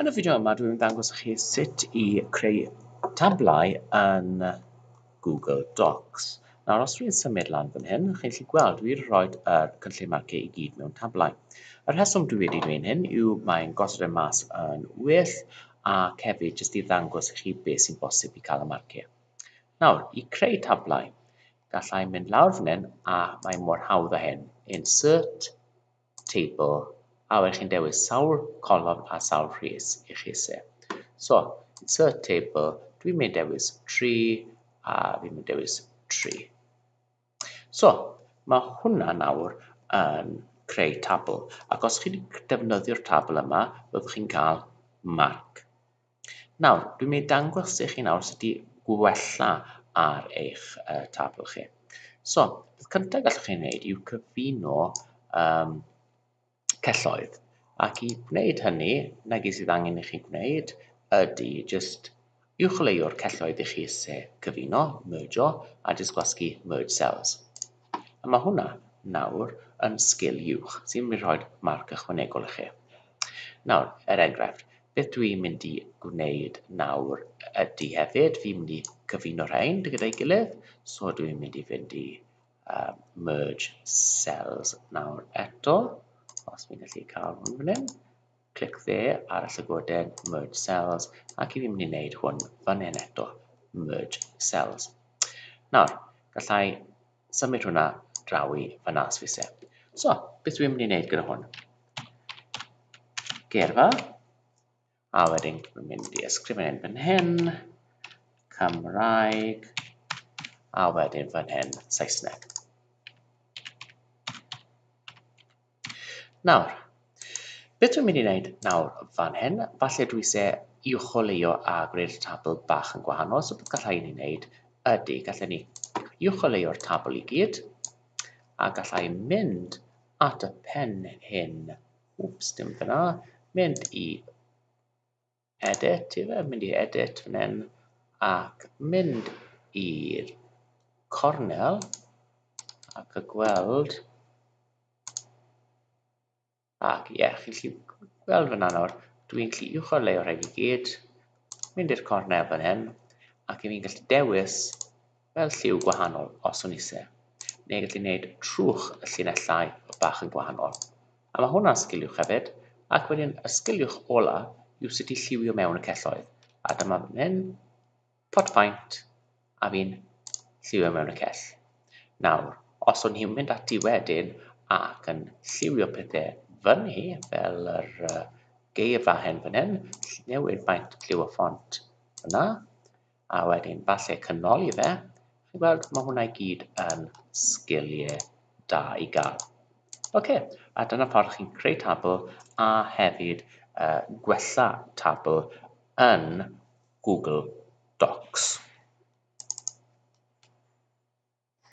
Yn y fideo yma dwi'n mynd ddangos i chi sut i creu tablau yn Google Docs. Nawr os dwi'n symud lan fan hyn, chi'n gallu gweld dwi wedi rhoi yr cynllun marciau i gyd mewn tablau. Yr rheswm dwi wedi gwneud hyn yw mae'n gosod e mas yn well ac hefyd jyst i ddangos i chi beth sy'n bosib i cael y marciau. Nawr, i creu tablau, gallai mynd lawr fan hyn a mae mor hawdd â hyn. Insert, teibl a wedyn chi'n dewis sawl colofn a sawl rhys i chi isie. So, insert table, dwi'n mynd dewis 3 a fi'n mynd dewis 3. So, mae hwnna nawr yn creu tabl, ac os chi wedi defnyddio'r tabl yma, byddwch chi'n cael marc. Nawr, dwi'n mynd i dangos i chi nawr sut i wella ar eich uh, tabl chi. So, beth cyntaf gallwch chi wneud yw cyfuno um, celloedd. Ac i wneud hynny, nag sydd angen i chi gwneud ydy just uwcholeuo'r celloedd i chi se cyfuno, mergeio, a jyst gwasgu merge cells. A mae hwnna nawr yn sgil uwch sy'n mynd i rhoi marc ychwanegol i chi. Nawr, er enghraifft, beth dw i'n mynd i gwneud nawr ydy hefyd, fi'n mynd i cyfuno rhain gyda'i gilydd, so dw i'n mynd i fynd i uh, merge cells nawr eto, os fi'n gallu cael hwn fan hyn. Clic dde ar y llygoden Merge Cells ac i fi mynd i wneud hwn fan hyn eto, Merge Cells. Nawr, gallai symud hwnna draw i fanna os fi se. So, beth dwi'n mynd i wneud gyda hwn? Geirfa, a wedyn dwi'n mynd i ysgrifennu'n fan hyn, Cymraeg, a wedyn fan hyn, Saesneg. Nawr, beth dwi'n mynd i wneud nawr fan hyn, falle dwi se i uwcholeuo a gwneud y tabl bach yn gwahanol, so beth gallai ni wneud ydy, gallai ni uwcholeuo'r tabl i gyd, a gallai mynd at y pen hyn, wps, dim dyna, mynd i Edit, ife? Mynd i edit fan hyn ac mynd i'r cornel ac y gweld. Ac ie, yeah, chi'n gallu gweld fyna nawr, dwi'n gallu uwchor leio rhaid i gyd, mynd i'r cornel fan hyn, ac i fi'n gallu dewis Fel lliw gwahanol os o'n ise. Neu gallu neud trwch y llinellau bach yn gwahanol. A ma hwnna'n sgiliwch hefyd. Ac wedyn y sgiliwch ola yw sut i lliwio mewn y celloedd. A dyma fan hyn, pot paent, a fi'n lliwio mewn y cell. Nawr, os o'n hi'n mynd ati wedyn ac yn lliwio pethau fan hi, fel yr uh, geirfa hen fan hyn, newid maint lliw o ffont yna, A wedyn falle canoli fe. Chi'n gweld, mae hwnna i gyd yn sgiliau da i gael. OK, a dyna ffordd chi'n creu tabl a hefyd uh, gwella tabl yn Google Docs.